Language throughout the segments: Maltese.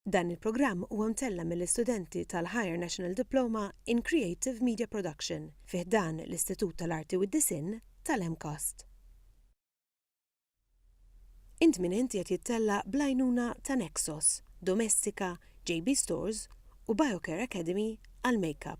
Dan il-programm huwa mtella' mill-istudenti tal-Higher National Diploma in Creative Media Production fi ħdan l-Istitut tal-Arti u d-Disinn tal-MCAST. Int minn int qiegħed jittella' bl-għajnuna ta' Nexos, Domestika, JB Stores u Biocare Academy għall-Makeup.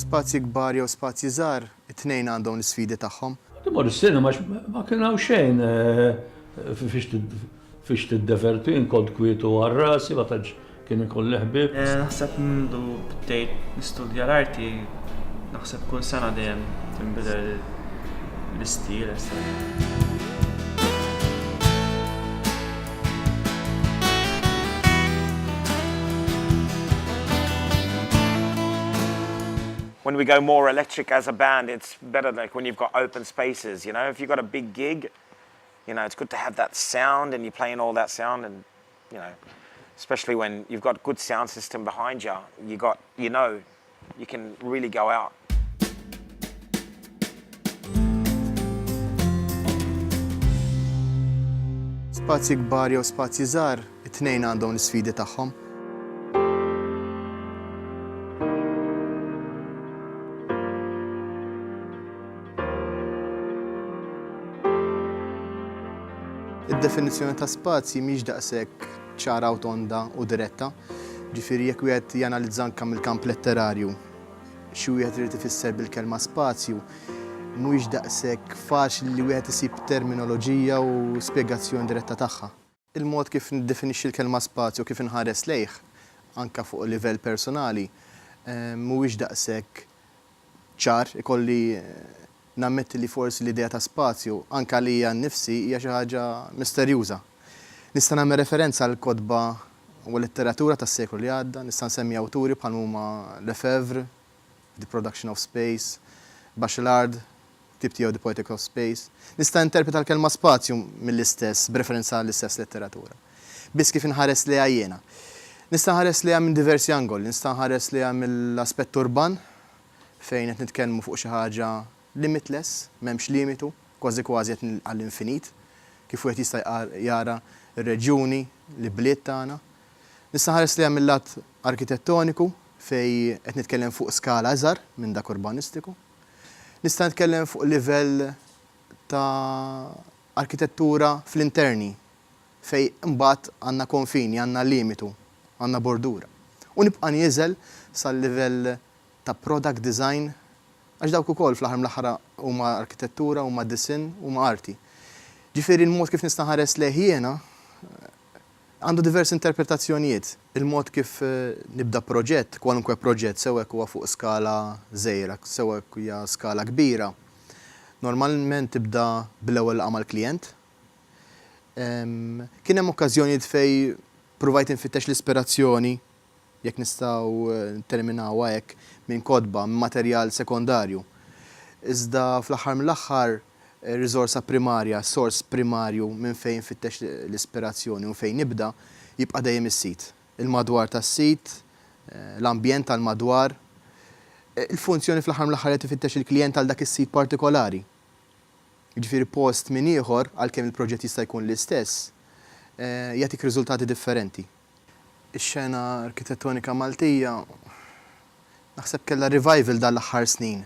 Spazji kbar jew spazji żgħar, it-tnejn għandhom l-isfidi tagħhom. Timur is-sinema għax ma kien hawn xejn fiex tiddeverti, jien kont kwiet u għal rasi ma tantx Kien ikun li ħbieb. Naħseb mindu bdejt nistudja l-arti, naħseb kull sena dejjem tinbidel l-istil as such. When we go more electric as a band it's better like when you've got open spaces you know if you've got a big gig you know it's good to have that sound and you're playing all that sound and you know, especially when you've got good sound system behind ya, you got, you know, you can really go out. Spazji kbar jew spazji żgħar, it-tnejn għandhom l-isfidi tagħhom. Id-definizzjoni ta' spazji mhix daqshekk ċara u tonda u diretta. Ġifieri jekk wieħed janalizza anke mill-kamp letterarju xi wieħed irid ifisser bil-kelma spazju, mhuwiex daqshekk faċli li wieħed isib terminoloġija u spjegazzjoni diretta tagħha. Il-mod kif niddefinixxi l-kelma spazju u kif inħares lejh, anke fuq livell persunali, mhuwiex daqshekk ċar. Ikolli nammetti li forsi l-idea ta' spazju, anke għalija nnifsi, hija xi ħaġa misterjuża. Nista' nagħmel referenza għall-kotba u l-letteratura tas-seklu li għadda. Nista' nsemmi awturi bħalma huma Lefèvre, The Production of Space, Bachelard, ktieb tiegħu The Poetics of Space, nista' interpreta l-kelma spazju mill-istess b'referenza għall-istess letteratura. Biss kif inħares lejha jiena. Nista' nħares lejha minn diversi angoli. Nista' nħares lejha mill-aspett urban, fejn qed nitkellmu fuq xi ħaġa limitless, m'hemmx limitu, kważi kważi qed għall-infinit, kif wieħed jista' jara r-reġjuni, l-ibliet tagħna. Nista' nħares lejha mil-lat arkitettoniku, fejn qed nitkellem fuq skala iżgħar minn dak urbanistiku. Nista' nitkellem fuq livell ta' arkitettura fl-interni fejn imbagħad għandna konfini, għandna limitu, għandna bordura. U nibqa' nieżel sal-livell ta' product design għax dawk ukoll fl-aħħar mill-aħħar huma arkitettura, huma disinn, huma arti. Ġifieri l-mod kif nista' nħares lejh jiena, Għandu diversi interpretazzjonijiet il-mod kif nibda proġett, kwalunkwe proġett, sew hekk huwa fuq skala żgħira, sew hekk hija skala kbira. Normalment tibda bl-ewwel laqgħa mal-klijent. Kien hemm okkażjonijiet fejn pruvajt infittex l-ispirazzjoni. jekk nistgħu nitterminawha hekk, minn kotba, minn materjal sekondarju. Iżda fl-aħħar mill-aħħar ir-riżorsa primarja, s-sors primarju minn fejn infittex l-ispirazzjoni u minn fejn nibda, jibqa' dejjem is-sit. Il-madwar tas-sit, l-ambjent tal-madwar. Il-funzjoni fl-aħħar mill-aħħar qed ifittex il-klijent għal dak is-sit partikolari. Jiġifieri post minn ieħor, għalkemm il-proġett jista' jkun l-istess, jagħtik riżultati differenti. Ix-xena arkitettonika Maltija naħseb kellha revival dan l-aħħar snin,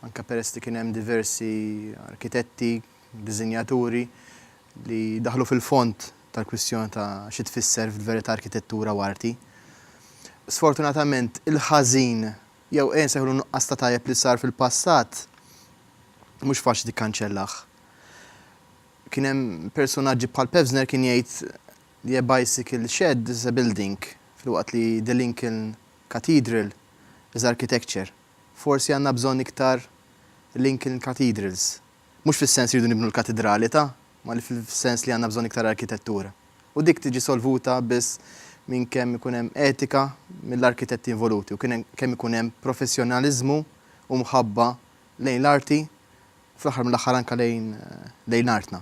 anke peress li kien hemm diversi arkitetti, diżinjaturi li daħlu fil-fond tal-kwistjoni ta' xi tfisser f'verità arkitettura u arti. Sfortunatament il-ħażin, jew ejja nsejħulu n-nuqqas ta' tajjeb li sar fil-passat, mhux faċli tikkanċellah. Kien hemm personaġġi bħal Pevsner kien jgħid li a bicycle shed is a building filwaqt li the Lincoln Cathedral is architecture. Forsi għandna bżonn iktar Lincoln Cathedrals. Mhux fis-sens li rridu nibnu l-katidrali ta', ma li fis-sens li għandna bżonn iktar arkitettura. U dik tiġi solvuta biss minn kemm ikun hemm etika mill-arkitetti involuti u kemm ikun hemm professjonaliżmu u mħabba lejn l-arti u fl-aħħar mill-aħħar anke lejn artna.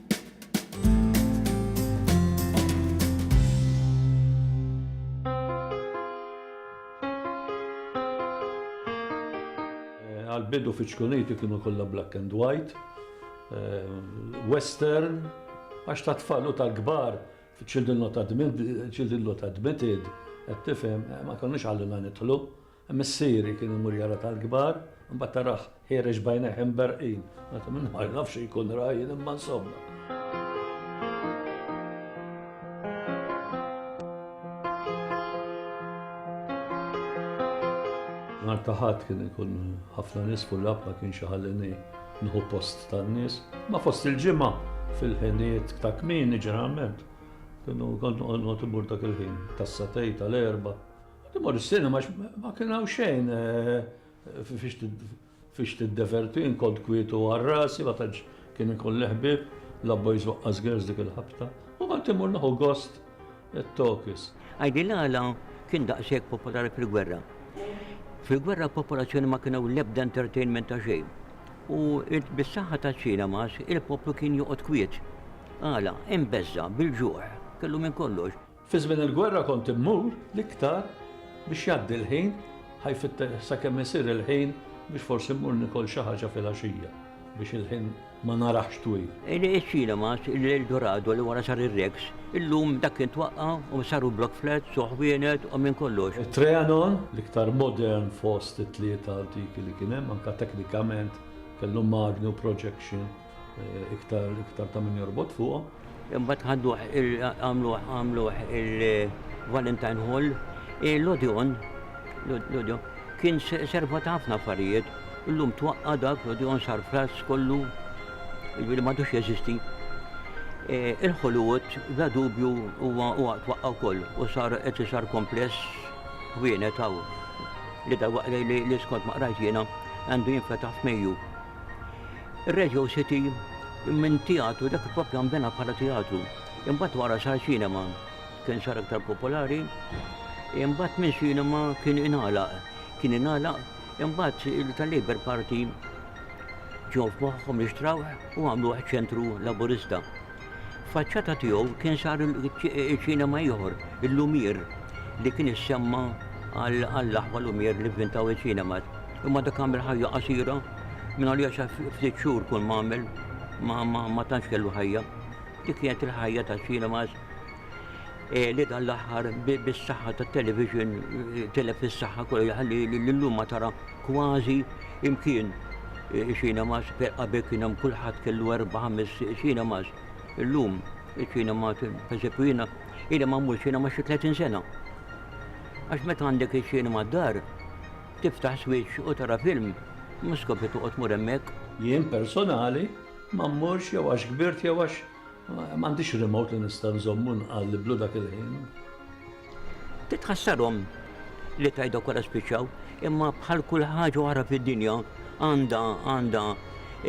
Għall-bidu fiċ-Ċkuniti kienu kollha black and white, western, għax tat-tfal u tal-kbar fiċ-Children Not Admitted, qed tifhem, ma konniex ħallina nidħlu. Missieri kien imur jara tal-kbar, imbagħad tarah ħiereġ b'għajnejh imberrqin. Għad minn ma naf xi jkun ra jien imma insomma. Nhar ta' Ħadd kien ikun ħafna nies fuq l-app ma kienx iħallini nħu post tan-nies. Ma fost il-ġimgħa fil-ħiniet ta' kmieni ġeneralment. Kienu kont noqgħod imur dak il-ħin tas-satej tal-erba' Kont immur is-sinema għax ma kien hawn xejn fiex tiddeverti, jien kont kwiet u għal rasi, ma tantx kien ikun li ħbieb, la boys waqqas girls dik il-ħabta. U kont immur nieħu gost it-talkies. Għidli l-għala kien daqshekk popolari fil-gwerra. Fil-gwerra popolazzjoni ma kien hawn l-ebda entertainment ta' xejn. U bis-saħħa taċ-ċinemas il-poplu kien joqgħod kwiet. Għala, imbeżża', bil-ġuħ, kellu minn kollox. Fi żmien il-gwerra kont immur l-iktar biex jgħaddi l-ħin, ħaj fitter sakemm isir il-ħin biex forsi mmur nikol xi ħaġa filgħaxija biex il-ħin ma narax twil. Il-cinemas, il-Eldorado li wara sar ir-Rex, illum dak kien twaqqa' u saru block flats u ħwienet u minn kollox. It-Trianon, l-iktar modern fost it-tlieta antiki li kien hemm, anke teknikament, kellu magni u projection. Iktar iktar ta' min jorbot fuqhom. Imbagħad ħaddu għamlu għamlu il-Valentine Hall, l-Odeon, l-Odeon kien serva ta' ħafna affarijiet, illum twaqqa dak l-Odeon sar frass kollu, jiġifieri m'għadux jeżisti. Il-Hollywood bla dubju huwa huwa twaqqa' wkoll u sar qed isar kompless wienet hawn li dalwaqt li skont ma qrajt jiena għandu jinfetaħ f'Mejju. Ir-Radio City minn teatru, dak propju nbena bħala teatru, imbagħad wara sar ċinema, kien sar aktar popolari, imbagħad minn ċinema kien ingħalaq, kien ingħalaq, imbagħad il-tal-Labour Party ġew f'moħħhom li xtrawh u għamluh ċentru Laburista. F'faċċata tiegħu kien sar ċinema ieħor, il-Lumiere, li kien issemma għall-aħwa Lumiere li vvintaw iċ-ċinemas. Imma dak għamel ħajja qasira, mingħaliex għax ftit xhur kull m'għamel ma tantx kellu ħajja. Dik kienet il-ħajja taċ-ċinemas. li dan l-aħħar bis-saħħa tat-television tilef fis-saħħa kollu jħalli l-lum ma tara kważi imkien cinemas qabel kien hemm kulħadd kellu erba' ħames cinemas. Illum iċ-cinema pereżempju jiena ili ma mmur cinema xi 30 sena. Għax meta għandek iċ-cinema d-dar, tiftaħ switch u tara film, ma skopri toqgħod tmur hemmhekk. Jien personali ma mmurx jew għax kbirt jew għax M'għandix remote li nista' nżomm u nqalliblu dak il-ħin. Titħassarhom li tgħidlok wara spiċċaw, imma bħal kull ħaġa oħra fid-dinja għandha għandha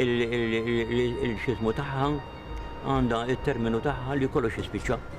il-xismu tagħha, għandha it-terminu tagħha li kollox jispiċċa.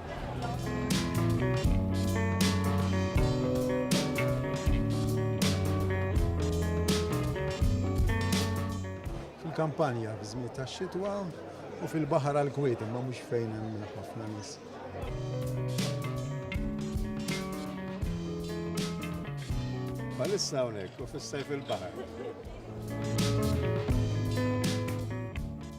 Fil-kampanja f'żmien tax-xitwa u fil-baħar għal kwiet imma mhux fejn hemm ħafna nies. Bħalissa hawnhekk u fis-sajf il-baħar.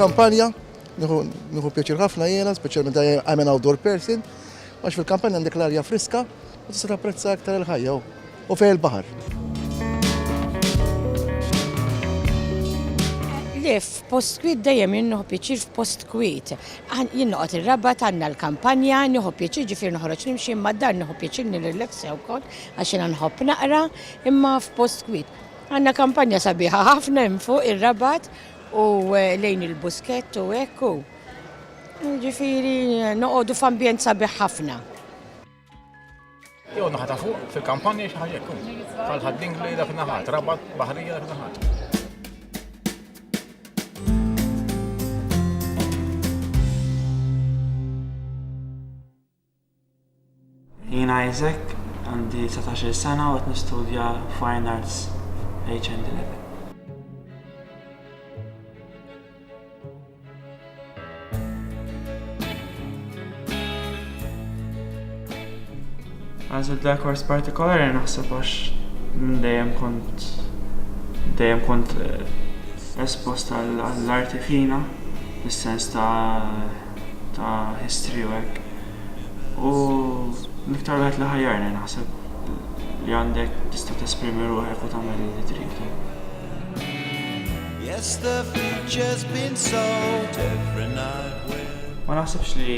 Kampanja, nħu pjaċir ħafna jena, specialment I'm an outdoor person, għax fil-kampanja għandek l-arja friska, u tista' prezza aktar il-ħajja. u fejn il-baħar. Lif, post kwit dejjem jinnoħ pieċir f'post kwit. Jinnoqgħod ir-raba tanna l-kampanja, nieħu pieċir ġifier noħroġ nimxi imma dan nieħu pieċir nirrilaxxa wkoll għax jiena nħobb naqra imma f'post kwit. Għandna kampanja sabiħa ħafna hemm fuq ir-rabat u eh, lejn il-buskett u hekk u. Ġifieri noqogħdu f'ambjent sabiħ ħafna. Jew naħa ta' fuq fil-kampanja xi ħaġa jkun. Bħal dingli dak naħat, rabat baħrija dak naħat. Jina Isaac, għandi 19 sena u għet nistudja Fine Arts HND level. Għażilt dak kors partikolari naħseb għax minn dejjem kont dejjem kont eh, espost għall-arti fina, fis-sens ta' ta' history u hekk. U miktar wieħed li ħajjarni naħseb li għandek tista' tesprimi ruħek u tagħmel li trid. Yes, the future's been sold every night when Ma naħsibx li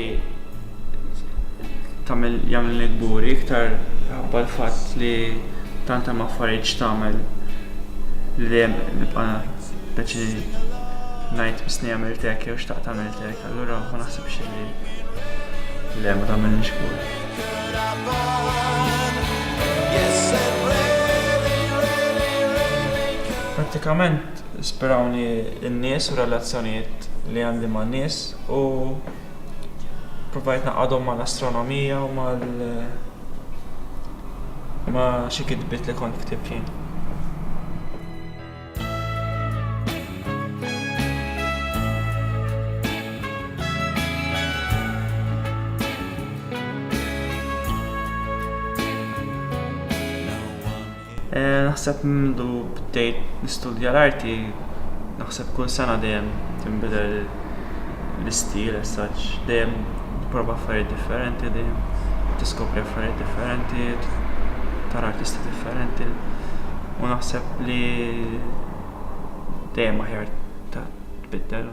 tagħmel jagħmel nikburi iktar ħabba l-fatt li tant hemm affarijiet x'tagħmel li dejjem nibqa' peċi ngħid misni jagħmel tek jew xtaq tagħmel tek, allura ma naħsibx li le ma tagħmel nixkur. Yes, Prattikament ispirawni n-nies u r-relazzjonijiet li għandi man-nies u ppruvajt ngħaqqadhom mal-astronomija u mal ma' xi kitbiet li kont ktibt jien. Naħseb mindu bdejt nistudja l-arti, naħseb kull sena dejjem tinbidel l-istil as such, dejjem tipprova affarijiet differenti, dejjem tiskopri affarijiet differenti, tara artisti differenti. U naħseb li dejjem aħjar tbiddel.